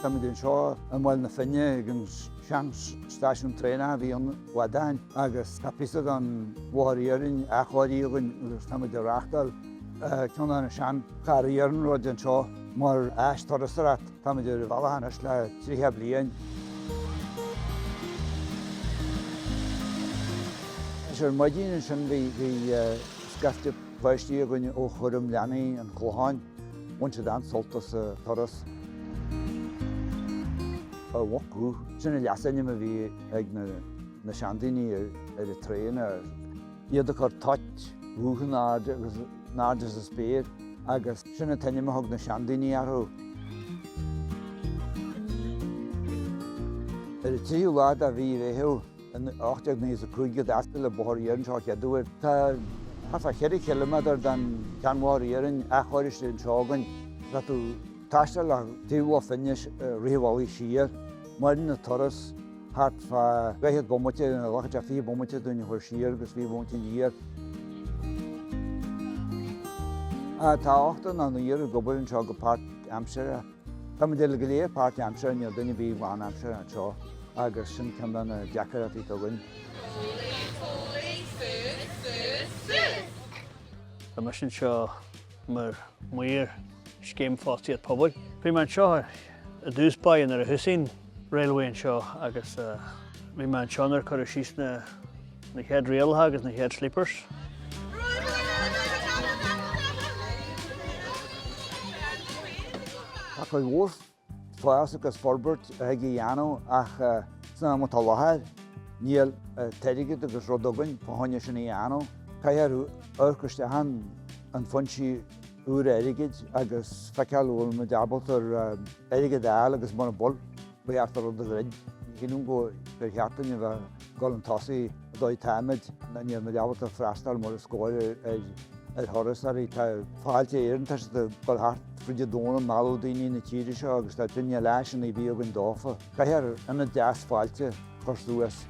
Táimid anseo i mBaile na Finne ag an seanstáisiún traenach a bhí ann i gCladáin agus tá píosa den bhóthar iarainn athchóirithe againn agus táimid ag reáchtáil ceann de na seancharranna iarnróid anseo mar áis turasóireachta. Táimid ar an bhealach anois le 30 bliain. Ar maidin ansin bhí scaifte Páistí againn ó chúram leanaí an Chlocháin, bhain siad an-sult as a turas. An mhuc dhubh, sin an leasainm a bhí ag na seandaoine ar na traenacha. Iad ag cur toit dhubh in airde sa spéir agus sin an t-ainm a thug na seandaoine orthu. Ar an tríú lá de mhí an Mheithimh. In 1895 a d'fhoscail an Bóthar Iarainn anseo an chéad uair. Tá thart fá cheithre chiliméadar den sheanbhóthar iarainn athchóiriste anseo againn. Tá tú ag taisteal le taobh Loch Finne i rith an bhealaigh siar. Maireann an turas thart fá dhaichead bomaite nó glacann sé fiche bomaite dúinn a dhul siar agus fiche bomaite aniar. Tá ochtar nó naonúr ag obair anseo go páirtaimseartha. Táimid uile go léir páirtaimseartha, níl duine ar bith lánaimseartha anseo agus sin ceann de na deacrachtaí atá againn. Tá mise anseo mar maor scéim fostaíocht pobail. Bhí mé anseo i dtús báire nuair a thosaigh railway anseo agus bhí mé anseo nuair a cuireadh síos na chéad ráilleacha agus na chéad sleepers. Tá cuid mhór fás agus forbairt a thig a dhéanamh ach san am atá i láthair níl an t-airgead agus rud againn fá choinne sin a dhéanamh. Caithfear amharc isteach ar fhoinsí. úra airgid agus feiceáil an bhfuil muid ábalta ar airgead a fháil agus mura bhfuil, ba cheart an rud a dhruid. Ní shílim go, gur cheart dúinn a bheith ag dul 'un tosaigh an dóigh atáimid nó níl muid ábalta freastal mar is cóir ar thurasóirí. Tá Fáilte Éireann, tá siad ag dul thart fríd an domhan ag mealladh daoine 'na tíre seo agus tá againne le háiseanna a bheith againn dófa. Caithfear ionad deas fáilte a chur suas.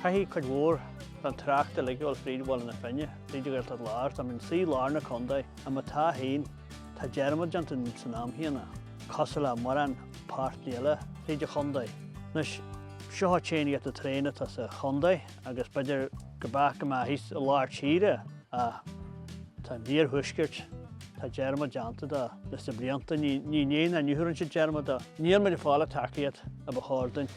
Caithfidh cuid mhór den trácht uilig a ghabháil fríd Bhaile na Finne, fríd Ghaeltacht Láir, tá muid inár suí i lár na condae, má tá féin, tá dearmad déanta dínn san am chéanna, cosúil le mórán páirteanna eile fríd an chondae. Anois, seo an t-aon ionad traenach atá sa chondae agus b'fhéidir go mbeadh sé go maith thíos i lár tíre ach tá an iarthuaisceart, tá dearmad déanta de leis na blianta, ní dhéanann an Uachtarán sin dearmad de. Níl muid ag fáil an tacaíocht a ba chóir dúinn.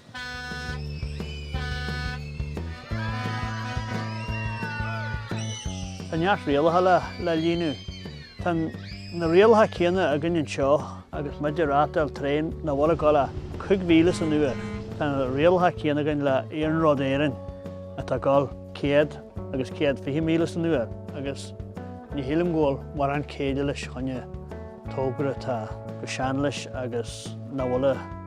Tá neart rialacha le líonadh isteach. Tá na rialacha céanna againn anseo agus muid ag reáchtáil traein nach bhfuil ag gabháil ach cúig mhíle san uair. Tá na rialacha céanna againn le Iarnród Éireann atá ag gabháil céad agus céad fiche míle san uair agus ní shílim go bhfuil mórán céille leis fá choinne tógra atá chomh sean leis agus nach bhfuil a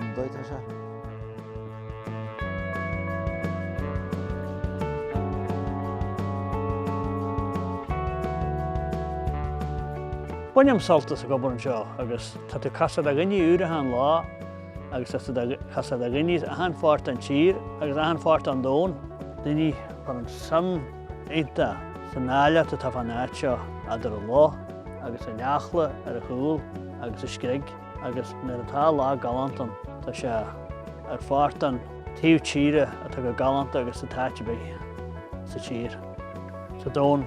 an dóigh atá sé. Bainim sult as an obair anseo agus tá tú ag castáil ar dhaoine úra achan lá agus ag castáil ar dhaoine as achan pháirt den tír agus achan pháirt den domhan, daoine ag cur an-suim iontach san áilleacht atá fán áit seo eadar an loch agus an Eachla ar a chúl agus an screig. agus nuair atá lá galánta ann, tá sé ar pháirt de taobh tíre atá chomh galánta agus atá in áit ar bith sa tír, sa domhan.